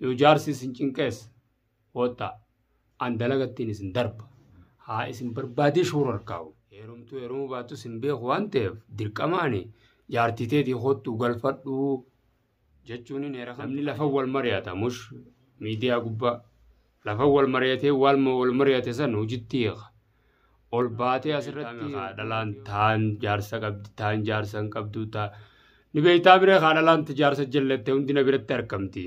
Yoo jaarsi isin cinqees hoottaa an dalagattiin isin darba. Haa isin barbaadee shoora harkaa'u. Heerumtuu heerumuu baattu isin beeku waan ta'eef dirqamaani jaartii teetii hoottuu galfadhuu jechuun hin heera. Namni lafa wal mari'ata mush miidiyaa gubbaa lafa wal mari'atee waalma wal mari'ate san hojitti hiika. ol baatee asirratti haa dhalaan taan jaarsa qabdi taan jaarsa hin qabdu taa ni beektaa biree haa dhalaan ta jaarsa jallatte hundi na biratti argamti.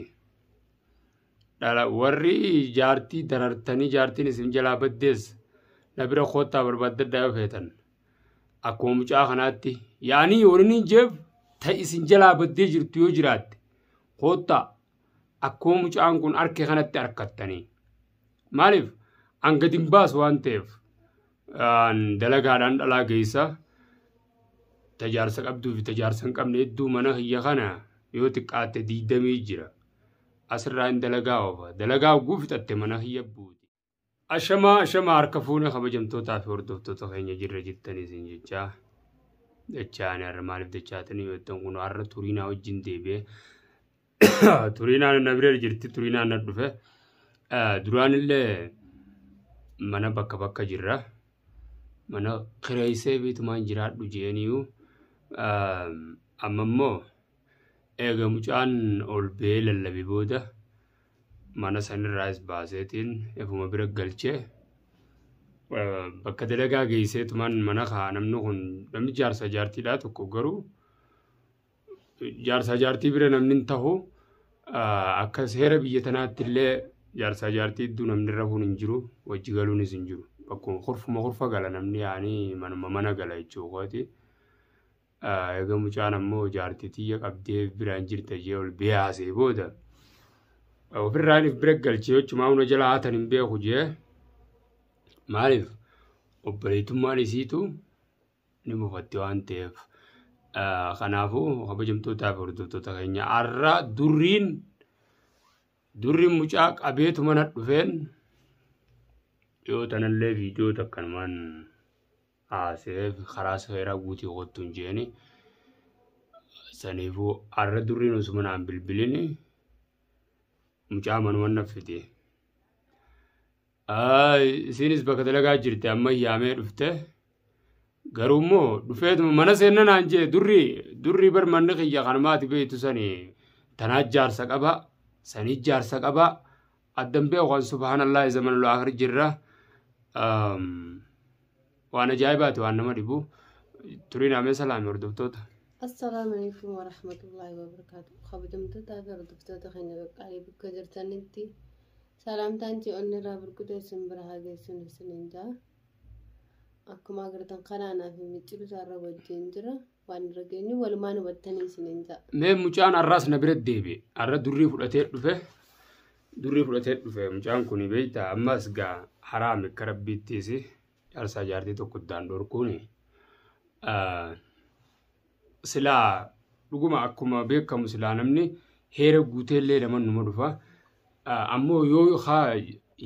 Dhala warri jaartii darartanii jaartiin isin jalaa baddees na bira koottaa barbaaddadhaa yoo feetan. Akkuma mucaa kanaatti yaanii waliin jeef ta isin jalaa baddee jirtu yoo jiraatte koottaa akkuma mucaan kun arke kanatti arkattanii maaliif an gadi hin baasu waan ta'eef aan dalagaadhaan dhalaa geessa tajaarsa qabduu fi tajaarsa hin qabne hedduu mana kiyya kana yoo xiqqaatte diidamii jira asirraa hin dalagaa oofa dalagaa oguu fixatte mana kiyya buuti. Ashamaa ashamaa harka fuune kabajamtootaa fi hordoftoota keenya jirra jirtanii isin jechaa. Dachaa ani har'a maaliif dachaatanii beektan kun har'a turiinaa wajjin deebi'ee turiinaan na bira jirti turiinaan na dhufe duraan illee mana bakka bakka jirra mana kireessee beetumaan jiraadhu jeeniyu amma immoo Eega mucaan ol ba'ee lallabe booda mana sanirraas baaseetiin efuma bira galchee bakka dalagaa geesseetumaan mana kaa namni kun namni jaarsa jaartiidhaa tokko garuu jaarsa jaartii bira namni hin tahu akka seera biyya tanaatti illee jaarsa jaartii iddoo namni rafuun hin jiru wajji galuunis hin jiru bakkuma kurfuma kurfa gala namni yaanii manuma mana gala jechuukooti. Egaa mucaan ammoo jaartii tiyya qabdee biraan jirta jee ol bee haasee booda ofirraan if bira galchee jechumaa hunda jala haatan hin beeku jee maaliif obboleetummaan isiitu ni mufatti waan ta'eef. Kanaafuu kabajamtootaa fi hordoftoota keenya har'a durriin durriin mucaa qabeetu mana dhufeen yoo tanallee viidiyoo takkanumaan. Haasee karaa seeraa guutii kottu hin jeeni. Saniifuu har'a durriin osuma naan bilbilini mucaa manuma naf fide. Isiinis bakka dalagaa jirti amma yaamee dhufte. Garuu immoo dhufeetuma mana seenna naan jee durri durri bar manni kiyya kan maati beektu sani tanaa jaarsa qaba sanii jaarsa qaba addan beeku kan subhaanallaahi zamanul akhir jirra waan ajaa'ibaati waan nama dhibu turiin amee salaame hordoftoota Assalaamu alaikum wa rahmatullahi wa barakaatu. Kabajamtootaa fi hordoftoota keenya qaqqaalii bakka jirtanitti salaamtaan ji'oonni irraa burqutee isin bira haa geessuun isiniin ja'a. Akkuma agartan kanaan fi micciiruu isaarra wajjin jira. Waan irra geenyu walumaan hubattanii isiniin ja'a. Mee mucaan har'aas na bira deebi'e. Har'a durrii fudhatee dhufe. Durrii fudhatee dhufe. Mucaan kun beektaa ammas gaa haraami akka rabbiittiis jaarsaa jaartii tokko iddaan dhorkuuni. Silaa dhuguma akkuma beekamu silaa namni heera guuteellee nama numa dhufa. Ammoo yoo haa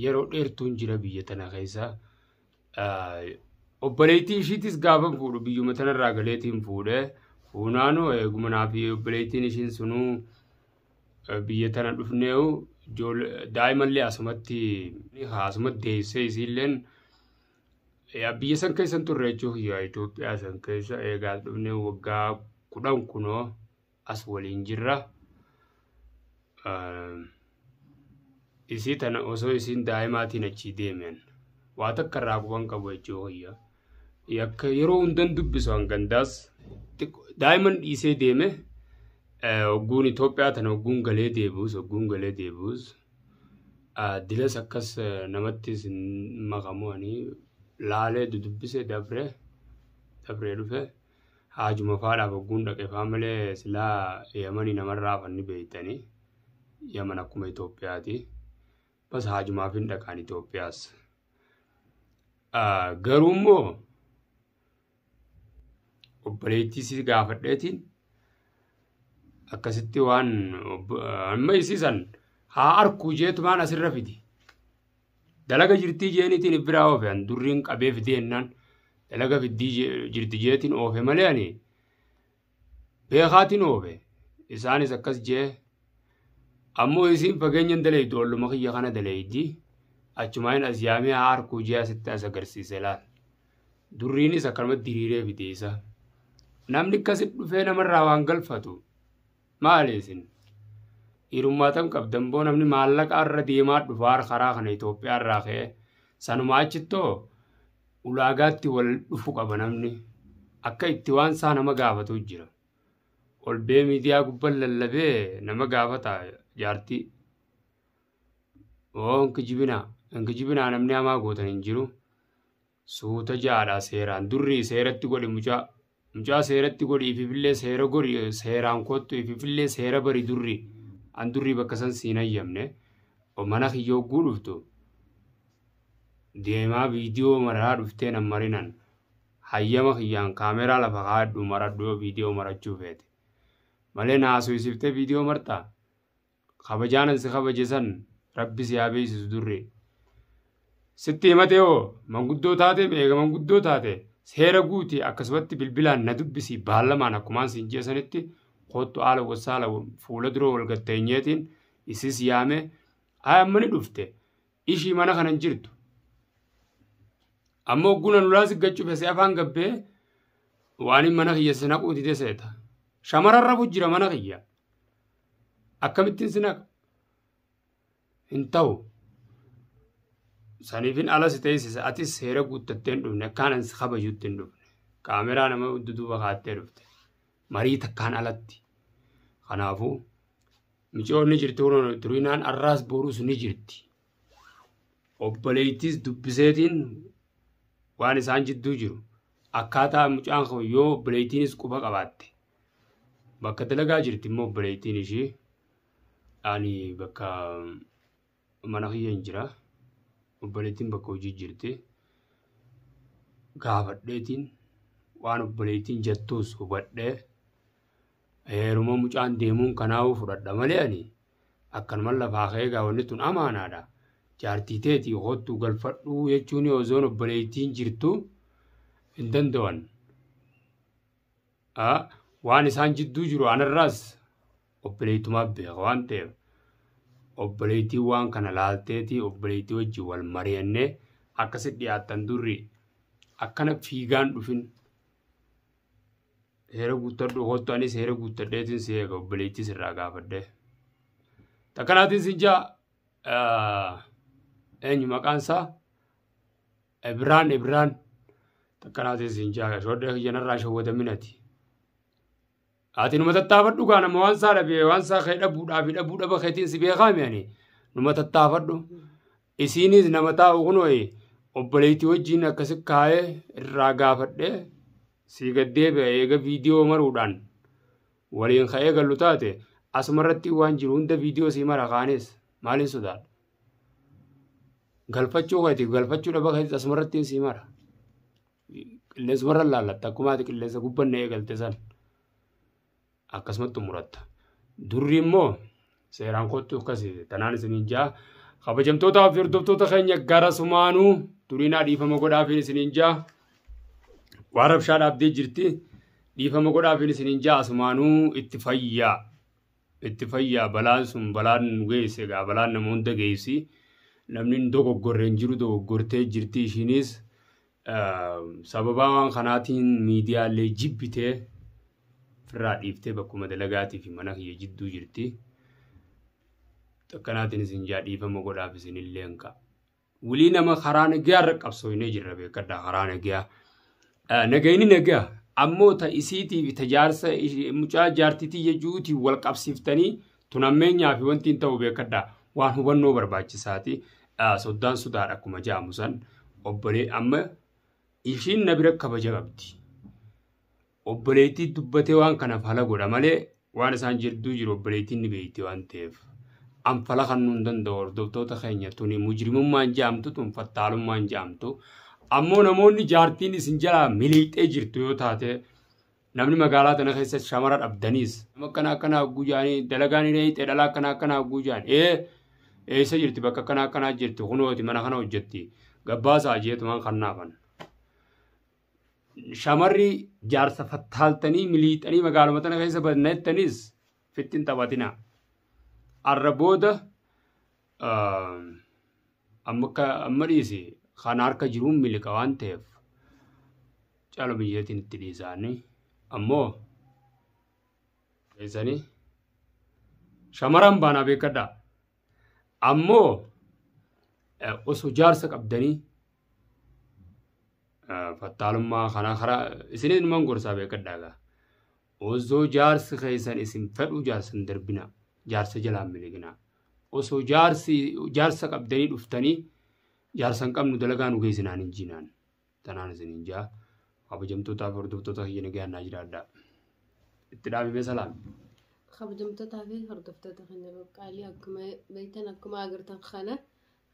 yeroo dheertuun jira biyya tana keessaa. obboleettii ishiitis gaafa fuudhu biyyuma tanarraa galeetiin fuudhe fuunaanuu eeguma naa fi obboleettiin ishiin sunuu biyya tana dhufneehu daa'imallee asumatti asumatti deessee isiilleen biyya san keessan turre jechuuf Itoophiyaa san keessa eegaas dhufnee waggaa kudhan kunoo as waliin jirra. Isii tana osoo isiin daa'imaatiin achii deemen waa takka irraa quban qabu jechuu hoyya. Yakka yeroo hundan dubbisu hangandaas daa'iman dhiisee deeme hogguun Itoophiyaa tana hogguun galee deebi'us hogguun galee deebi'us dilas akkas namattis makamu ani laalee dudubbise dabree dabree dhufe. Haajuma faadhaaf ogguun dhaqe faa malee silaa Yamani namarraa hafan ni beektani. Yaman akkuma Itoophiyaati. Bas haajumaaf hin dhaqaan Itoophiyaas. Ah, Garuu immoo obboleettii si gaafadheetiin akkasitti waan obbo- amma isiisan haa arkuu jeetumaan asirra fidi. Dalaga jirtii jeenitiin if biraa oofe an durriin qabee fidee hennaan dalaga fiddii je- jirti jeetiin oofe malee ani beekaatiin oofe isaanis akkas jee ammoo isiin fageenyan daleeydu olluma kiyya kana daleeydi achumaan as yaamee haa harkuu jee asitti as agarsiise laal durriinis akkanumatti diriiree fidee isaa namni akkasi dhufee namarraa waan galfatu Maali isin? Dhiirummaatan qabdan boo namni maallaqa irra deemaa dhufaa karaa kana Itoophiyaa irraa ka'ee sanumaa achittoo ulaagaatti wal dhufu qaba namni. Akka itti waan isaa nama gaafatu jira. Ol bee miidiyaa gubban lallabee nama gaafata jaartii. Oo hin kijibinaa. Hin kijibinaa namni hamaa gootan hin jiru. Suuta jaadha seeraan durri seeratti godhi mucaa mucaa seeratti godhi ififillee seera godhi seeraan kottu ififillee seera bari durri an durri bakka san siin hayyamne mana kiyya hogguu dhuftu deemaa viidiyoo maraa dhuftee nan marinan hayyama kiyyaan kaameraa lafa kaadhu maradhu yoo viidiyoo marachuu feete malee naasuyisiftee viidiyoo martaa kabajaanan si kabaje san rabbi si haa beeksisu durree. Sitti himatee hoo manguddoo taate eega manguddoo taate seera guuti akkasumatti bilbilaan na dubbisi baallamaan akkumaan siin ji'a sanitti koottu haala wasaala fuula dura wal gatteenyeetiin isis yaame haa amma ni dhufte ishii mana kanan jirtu. Amma hogguna nulaa si gachuuf si afaan gabbee waan mana kiyya si naquu dide seeta. Shamararra jira mana kiyya. akkamittiin sin haqa hin ta'u saniifin ala si teessisa atis seera guuttatteen dhufne akkaan ansi kabajuutti hin dhufne kaameraa nama duduuba kaattee dhufte marii takkaan alatti kanaafuu micoon ni jirti hunoon turinaan arraas boruus ni jirti obboleettiis dubbiseetiin waan isaan jidduu jiru akkaataa mucaan koo yoo obboleettiinis quba qabaatte Bakka dalagaa jirti immoo obboleettiin ishii ani bakka mana kiyya hin jira. Obboleettiin bakka hojii jirti. Gaafadheetiin waan obboleettiin jettuus hubadhee heeruma mucaan deemuun kanaa'uu fudhadha malee ani akkanuma lafaa ka'ee gaawwanni tun amaanaadha. Jaartii teetii hoottuu galfadhuu jechuun ozoon obboleettiin jirtu hin danda'an. a waan isaan jidduu jiru anarraas obboleettumaaf beeka waan ta'eef obboleettii waan kana laalteetii obboleettii wajjin wal mari'annee akka si dhiyaattan durri akkana fiigaan dhufin heera guuttadhu hoottu anis heera guuttadheetiin si eega obboleettii sirraa gaafadhee. Takkanaatiin si jaa eenyu maqaan isaa Ibraan Ibraan takkanaatiin siin jaaga shoodha kiyyanarraa shawwadaminati. Ati numa tattaafadhu kaa nama waan isaa dhabee waan isaa kee dhabuudhaa fi dhabuu dhaba keetiin si beekaa mi'ani numa tattaafadhu. Isiinis nama taa'u kunooyi obboleettii wajjin akkasi kaa'ee irraa gaafadhee sii gaddeebi'a eega viidiyoo maruudhaan waliin ka'ee gallu taate asumarratti waan jiru hunda viidiyoo sii mara kaanis maaliin sodaadha. Galfachuu keetiif galfachuu dhaba keetis asumarrattiin sii mara. Qilleensuma laallatta akkuma ati qilleensa gubbanne eegalte san akkasumatti xumuratta. Durri immoo seeraan kottu akkasi tanaan isiniin jaa. Kabajamtootaa fi hordoftoota keenya gara sumaanuu duriinaa dhiifama godhaafiin isiniin jaa. Waan rabshaa dhaabdee jirti dhiifama godhaafiin isiniin jaa asumaanuu itti fayyaa. itti fayyaa balaan sun balaan nu geesse egaa balaan nama hunda geessi namni hin dogoggorre hin jiru dogoggortee jirti ishiinis sababaa waan kanaatiin miidiyaalee jibbitee firraa dhiiftee bakkuma dalagaatii fi mana kiyya jidduu jirti. Akkanaatiin isin jaa dhiifama godhaaf isinillee hin ka'a. Wulii nama karaa nagaa irra qabsooynee jirra beekadha karaa nagaa. Nagayni nagaa ammoo ta isiitiif ta jaarsa mucaa jaartitii jechuutiin wal qabsiiftanii tun ammeenyaa fi wanti hin ta'u beekadha waan hubannoo barbaachisaati. Soddaan sodaadha akkuma ja'amu san obbolee amma ishiin na bira kabaja qabdi. Obboleettii dubbatee waan kana fala godha malee waan isaan jidduu jiru obboleettiin ni beekti waan ta'eef. An fala kannuu hin danda'u hordoftoota keenya tuni mujrimummaan ja'amtu tun fattaalummaan ja'amtu. Ammoo namoonni jaartiin isin jalaa miliixee jirtu yoo taate namni magaalaa tana keessa shamara dhabdaniis nama akkana akkana hagguu jaanii dalagaan hin eeyxe dhala akkana akkana hagguu jaan ee eessa jirti bakka akkana akkanaa jirti kunooti mana kana hojjetti gabbaasaa jeetumaan kannaafan. shamarri jaarsa fattaaltanii miliixanii magaaluma tana keessa badna jettanis fittin taphatina. Arra booda amma dhiisi kan harka jiruun miliqa waan ta'eef cala biyyeetiin itti dhiisaanii ammoo keessanii shamaraan baanaa beekadhaa. Ammoo osoo jaarsa qabdanii fattaalummaa kanaa karaa isin ilmaan gorsaa beekadhaagaa. Osoo jaarsi keessan isin fedhuu jaarsan darbina jaarsa jalaan miliqina. Osoo jaarsi jaarsa qabdanii dhuftanii jaarsan qabnu dalagaa nu geessinaan hin jiinaan. tanaan isiniin jaa kabajamtootaa fi hordoftoota kiyya nagaan naa jiraadhaa itti dhaabime salaam kabajamtootaa fi hordoftoota keenya qaqqaalii akkuma beektan akkuma agartan kana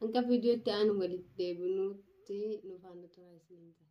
hanga viidiyootti aanu walitti deebinuutti nuuf haala turaa isiniin jaa